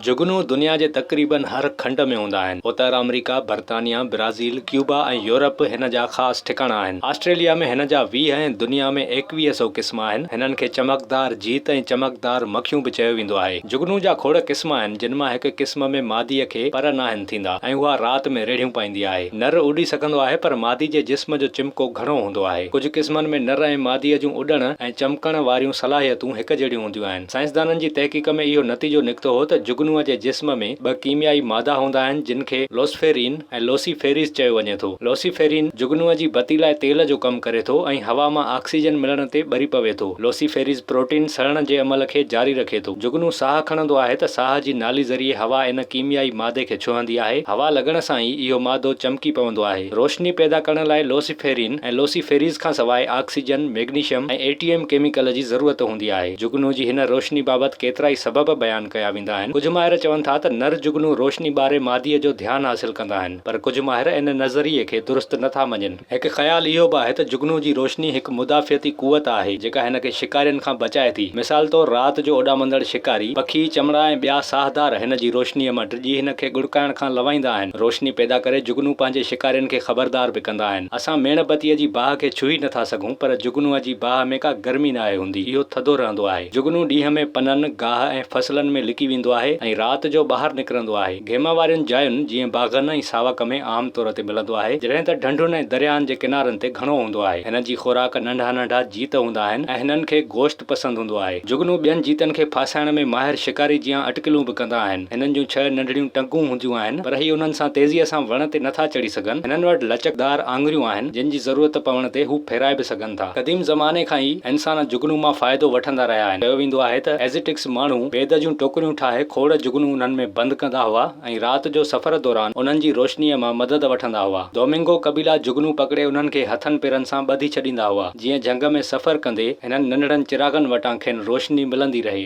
جهڳنو دنيا جي تقريبن هر کنڊ ۾ هوندا آهن. اتر آمريڪا، برطانيا، برازيل، ڪيوبا ۽ يورپ هن جا خاص ٺڪاڻا آهن. آسٽريليا ۾ هن جا ويهه ۽ دنيا ۾ ايڪويهه سئو قسم آهن. هنن کي چمڪدار جيت ۽ چمڪدار مکيون به چيو ويندو آهي. جهڳنو جا کوڙ قسم آهن، جن مان هڪ قسم ۾ ماديء کي پر ناهن ٿيندا ۽ اها رات ۾ ريڙهيون پائيندي آهي. نر اڏي سگهندو آهي پر مادي جي جسم جو چمڪو گهڻو هوندو آهي. ڪجهه قسمن ۾ نر ۽ ماديء جون اڏڻ ۽ چمڪڻ واريون صلاحيتون هڪجهڙيون هونديون آهن. سائنسدانن جي تحقيق ۾ اهو نتيجو نڪتو هو ته جگنوء جي جسم ۾ ٻه ڪيميائي مادا هوندا آهن جن کي لوسفيرين ۽ لوسي فيريز چيو وڃي ٿو. لوسيفيرين جگنوء جي بتي لاء تيل جو ڪم ڪري ٿو ۽ هوا مان آڪسيجن ملڻ تي ٻري پوي ٿو. لوسي فيريز پروٽين سڙڻ جي عمل کي جاري رکي ٿو. جگنو ساهه کڻندو آهي ته ساهه جي نالي ذريعي هوا ان ڪيميائي مادي کي ڇهندي آهي. هوا لڳڻ سان ئي اهو مادو چمڪي پوندو آهي. روشني پيدا ڪرڻ لاء لوسيفيرين ۽ لوسي فيريز کان سواء oxygen, magnesium ۽ A T M chemical جي ضرورت هوندي آهي. ٿيندي آهي. جگنو جي هن روشني بابت ڪيترائي سبب بيان ڪيا ويندا آهن. ڪجهه ماهر چون ٿا ته نر جگنو روشني ٻاري ماديء جو ڌيان حاصل ڪندا آهن، پر ڪجهه ماهر ان نظريي کي درست نه ٿا مڃين. هڪ خيال اهو به آهي ته جگنو جي روشني هڪ مدافعتي قوت آهي، جيڪا هن کي شڪارين کان بچائي ٿي. مثال طور رات جو اڏامندڙ شڪاري، پکي، چمڙا ۽ ٻيا ساهدار هن جي روشنيء مان ڊڄي هن کي ڳڙڪائڻ کان لنوائيندا آهن. روشني پيدا ڪري جگنو پنهنجي شڪارين کي خبردار به ڪندا آهن. اسان ميڻ بتيء جي باهه کي ڇهي نه ٿا سگهون. پر جگنوء جي باهه ۾ ڪا گرمي ناهي هوندي، اهو ٿڌو رهندو آهي. جگنو ڏينهن ۾ پنن، گاهه ۽ فصلن ۾ لڪي ويندو آهي ۽ رات جو ٻاهر نڪرندو آهي. گيما وارين جاين جيئن باغن ۽ ساوڪ ۾ عام طور تي ملندو آهي، جڏهن ته ڍنڍن ۽ درياهن جي ڪنارن تي گهڻو هوندو آهي. هنن جي خوراڪ ننڍا ننڍا جيت هوندا آهن ۽ هنن کي گوشت، پسند هوندو آهي. جهڳنو ٻين جيتن کي ڦاسائڻ ۾ ماهر شڪاري جيان اٽڪلون به ڪندا آهن. هنن جون ڇهه ننڍڙيون ٽنگون هونديون آهن پر هي انهن سان تيزيء سان وڻ تي نٿا چڙهي سگهن. هنن وٽ لچڪدار آڱريون آهن جن جي ضرورت پوڻ تي هو ڦيرائي به سگهن ٿا. قديم زماني کان ئي انسان جهڳنو مان فائدو وٺندا رهيا آهن. چيو ويندو آهي ته ازٽڪس ماڻهو بيد جون ٽوڪريون ٺاهي کوڙ جهڳنو انهن ۾ بند ڪندا هئا. ۽ رات جو سفر دوران انهن جي روشنيء مان مدد وٺندا هئا. دومنگو قبيلا جهڳنون پڪڙي انهن کي هٿن پيرن سان ٻڌي ڇڏيندا هئا، جيئن جهنگ ۾ سفر ڪندي هنن ننڍڙن چراغن وٽان کين روشني ملندي رهي.